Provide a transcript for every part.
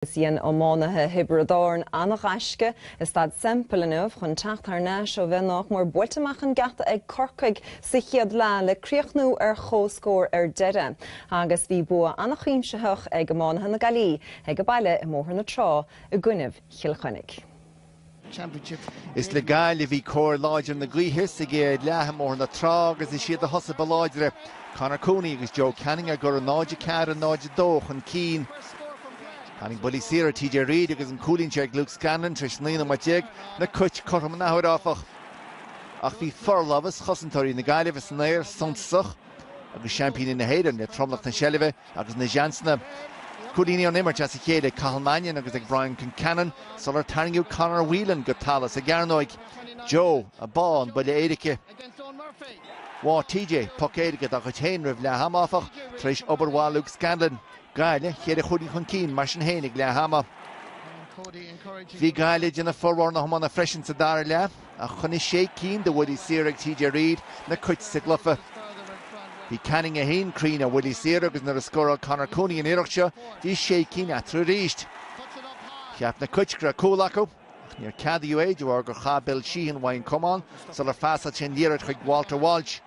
Agus dhein iománaithe Thiobraid Árann an-ghaisce i Staid Semple inniu chun teacht thar n-ais ó bheith nách mór buailte amach an geata ag Corcaigh sa chéad leath le críochnú ar chomhscór ar deireadh agus bhí bua an-chuimsitheach ag iománaithe na Gaillimhe ag a baile i mBóthar na Trá i gcoinnibh Chill Chainnigh. Is le Gaillimh a bhí cóir láidir na gaoithe sa gcéad leath i mBóthar na Trá agus is iad a thosaigh ba láidre, Conor Cooney agus Joe Canning á gcur 0-4, 0-2 chun cinn. Tharraing buillí saora TJ Reid agus an cúilín seo ag Luke Scanlon tar éis 19 nóiméad na Cait cothrom an athuair, áfach. Ach bhí forlámhas chosantóirí na Gaillimhe san aer suntasach. agus seaimpíní na hÉireann le tromlach na seilbhe agus na seansanna. Cúilíní ón imirt as a chéile ag Cathal Mannion agus ag Brian Concannon sular tarraingeadh Conor Whelan go talamh sa gcearnóig. Joe a bháigh an buille éirice. Bháigh TJ poc éirice dá chuid féin roimh leath ama, áfach, tar éis obair mhaith Luke Scanlon. Gaillimh, cheithre chúilín chun cinn mar sin féin ag leath ama. Bhí Gaillimh ag déanamh formhór na hiomána freisin sa dara leath. ach choinnigh sé cinn de bhuillí saora ag TJ Reid na Cait sa gcluiche. Bhí Canning é féin cruinn ar bhuillí saora agus nuair a scóráil Conor Cooney an iarracht seo, bhí sé cinn eatarthu arís. Cheap na Cait go raibh cúl acu, ach níor ceadaíodh é de bharr gur chaith Bill Sheehan uaidh an camán sular phasáil sé an liathróid chuig Walter Walsh.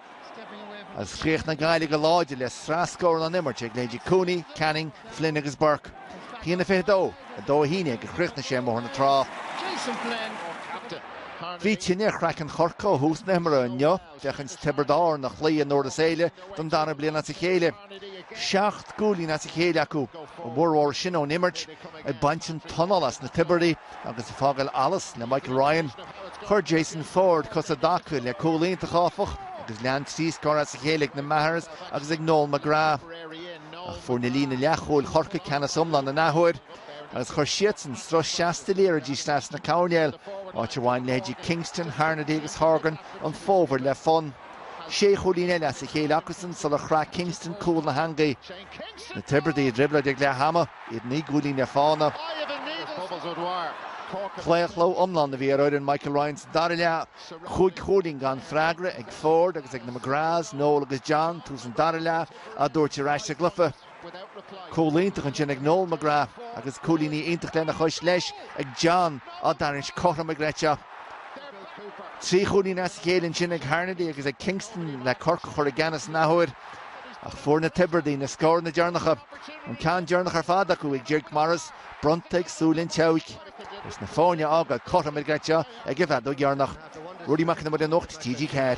Ach chríochnaigh Gaillimh go láidir le sraith scóranna ón imirt ag leithéidí Cooney, Canning, Flynn agus Burke. 1-22, 2-11 a chríochnaigh sé i mBóthar na Trá. Bhí tine ar chraiceann Chorcaí ó thús na himeartha inniu, féachaint Tiobraid Árann a chloí i nDurlas Éile don dara bliain as a chéile. Seacht gcúilín as a chéile acu, a bhformhór sin ón imirt, ag baint an t-anáil as na Tiobradaigh. Agus ag fágáil allas le Michael Ryan, chuir Jason Forde cos i dtaca le cúl iontach, áfach, agus lean trí scór as a chéile ag na Mahers agus ag Noel McGrath. Ach fuair an líne leathchúil Chorcaigh ceannas iomlán an athuair agus chuir siadsan sruth seasta liathróidí isteach sna coirnéil, áit ar bhain leithéidí Kingston, Harnedy agus Horgan an fómhar le fonn. Sé chúilín eile as a chéile acusan sular chraith Kingston cúl na heangaí. Na Tiobradaigh i dtrioblóid ag leath ama. iad naoi gcúilín ar fána. Claochló iomlán a bhí ar fhoireann Michael Ryan sa dara leath. Cúig chúilín gan freagra ag Forde agus ag na McGraths, Noel agus John, tús an dara leath, á dtabhairt ar ais sa gcluiche. Cúl iontach ansin ag Noel McGrath agus cúilíní iontach lena chois leis ag John, á dtarraingt cothrom go dochreidte. Trí chúilín as a chéile ansin ag Harnedy agus ag Kingston le Corcaigh a chur i gceannas an athuair. Ach fuair na Tiobradaigh na scóranna deireanacha, an ceann deireanach ar fad acu ag Jake Morris, bronnta ag súil an tseabhaic, agus na foirne a fhágáil cothrom ar gcraiceadh ag an bhfeadóg dheireanach. Ruairí Mac Con Iomaire, Nuacht TG4.